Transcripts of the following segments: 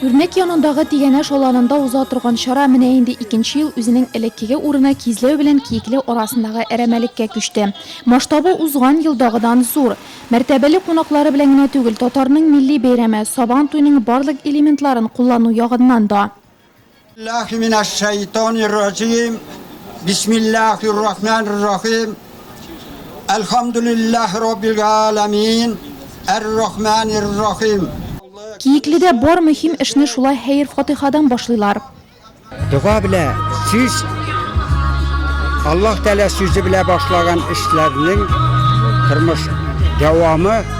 Үрнәк янындагы Тигәнәш аланында уза торган чара менә инде икенче ел үзенең элеккеге урыны Кизләү белән Киекле арасындагы әрәмәлеккә күчте. Масштабы узган елдагыдан зур. Мәртәбәле кунаклары белән генә түгел, татарның милли бәйрәме, Сабан туйның барлык элементларын куллану ягыннан да. Билләһи минәш шәйтанир раҗим. Бисмилләһир рахманир рахим. Әлхәмдүлилләһи раббил галәмин. Әр-рахманир рахим. Киекледә бар мөһим эшне шулай хәер-фатыйхадан башлыйлар. Дога белә сүз Аллаһ Тәгалә сүзе белә башлаган эшләрнең тормыш дәвамы.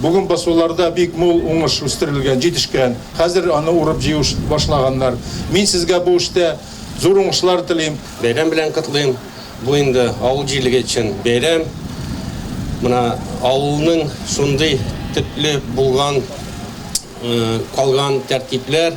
Бүген басуларда бик мул уңыш үстерелгән, җитешкән. Хәзер аны урып-җыю башлаганнар. Мин сезгә бу эштә зур уңышлар телим. Бәйрәм белән котлыйм. Бу инде авыл җирлеге өчен бәйрәм. Менә авылның шундый төпле булган, калган тәртипләр.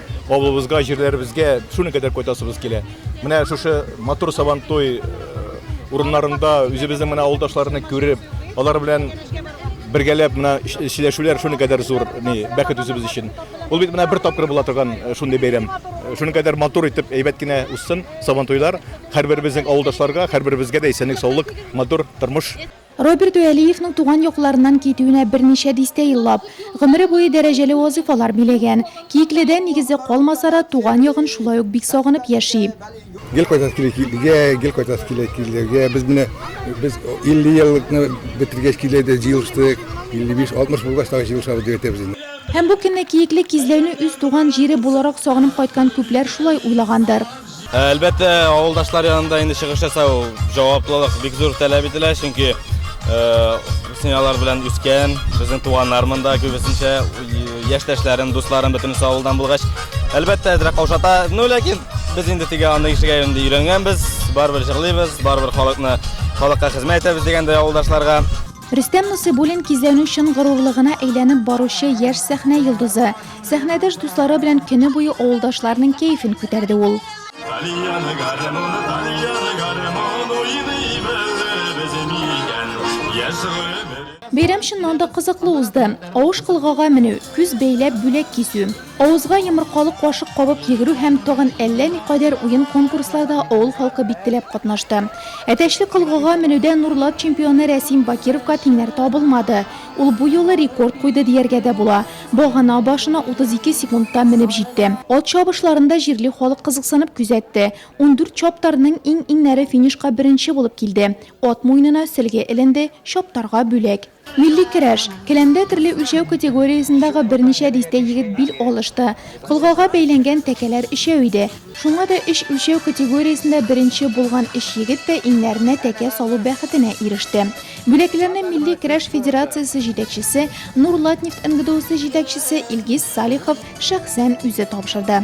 Авылыбызга, җирләребезгә шуның кадәр кайтасыбыз килә. Менә шушы матур сабантуй э, урыннарында үзебезнең менә авылдашларны күреп, алар белән бергәләп менә сөйләшүләр шуның кадәр зур ни бәхет үзебез өчен. Ул бит менә бер тапкыр була торган э, шундый бәйрәм. Э, шуның кадәр матур итеп әйбәт кенә узсын сабантуйлар. Һәрберебезнең авылдашларга, һәрберебезгә дә исәнлек, саулык, матур тормыш. Роберт Вәлиевның туган якларыннан китүенә берничә дистә еллап, гомере буе дәрәҗәле вазыйфалар биләгән. Киекледә, нигезе калмаса да, туган ягын шулай ук бик сагынып яши. Гел кайтасы килә Киеклегә, гел кайтасы килә Киеклегә. Без менә без 50 еллыкны бетергәч Киекледә җыелыштык. 55, 60 булгач тагы җыелышабыз дип әйтәбез инде. Һәм бу көнне Киекле Кизләүне үз туган җире буларак сагынып кайткан күпләр шулай уйлагандыр. Ә, әлбәттә, авылдашлар янында инде чыгыш ясау җаваплылык бик зур таләп ителә, чөнки Үсен алар белән үскән, безнең туганнар монда күбесенчә яшьтәшләрем, дусларым бөтенесе авылдан булгач, әлбәттә, әзрәк каушата. Ну, ләкин без инде теге аны ишегә инде өйрәнгәнбез, барыбер җырлыйбыз, барыбер халыкны, халыкка хезмәт итәбез дигәндәй авылдашларга. Рөстәм Нусыйбуллин кизләүнең чын горурлыгына әйләнеп баручы яшь сәхнә йолдызы. Сәхнәдәш дуслары белән көне буе авылдашларның кәефен күтәрде ул. Бәйрәм чыннан да кызыклы узды. Авыш кылгага менү, күз бәйләп бүләк кисү, авызга йомыркалы кашык кабып йөгерү һәм тагын әллә никадәр уен-конкурсларда авыл халкы бик теләп катнашты. Әтәчле кылгага менүдә Нурлат чемпионы Рәсим Бакировка тиңнәр табылмады. Ул бу юлы рекорд куйды дияргә дә була. Багана башына 32 секундта менеп җитте. Ат чабышларын да җирле халык кызыксынып күзәтте. Ундүрт чаптарның иң-иңнәре финишка беренче булып килде. Ат муенына сөлге эленде, чаптарга бүләк. Милли көрәш. Келәмдә төрле үлчәү категориясендәге берничә дистә егет бил алышты. Колгага бәйләнгән тәкәләр өчәү иде. Шуңа да өч үлчәү категориясендә беренче булган өч егет тә иңнәренә тәкә салу бәхетенә иреште. Бүләкләрне Милли көрәш федерациясе җитәкчесе, Нурлатнефть НГДУсы җитәкчесе Илгиз Салихов шәхсән үзе тапшырды.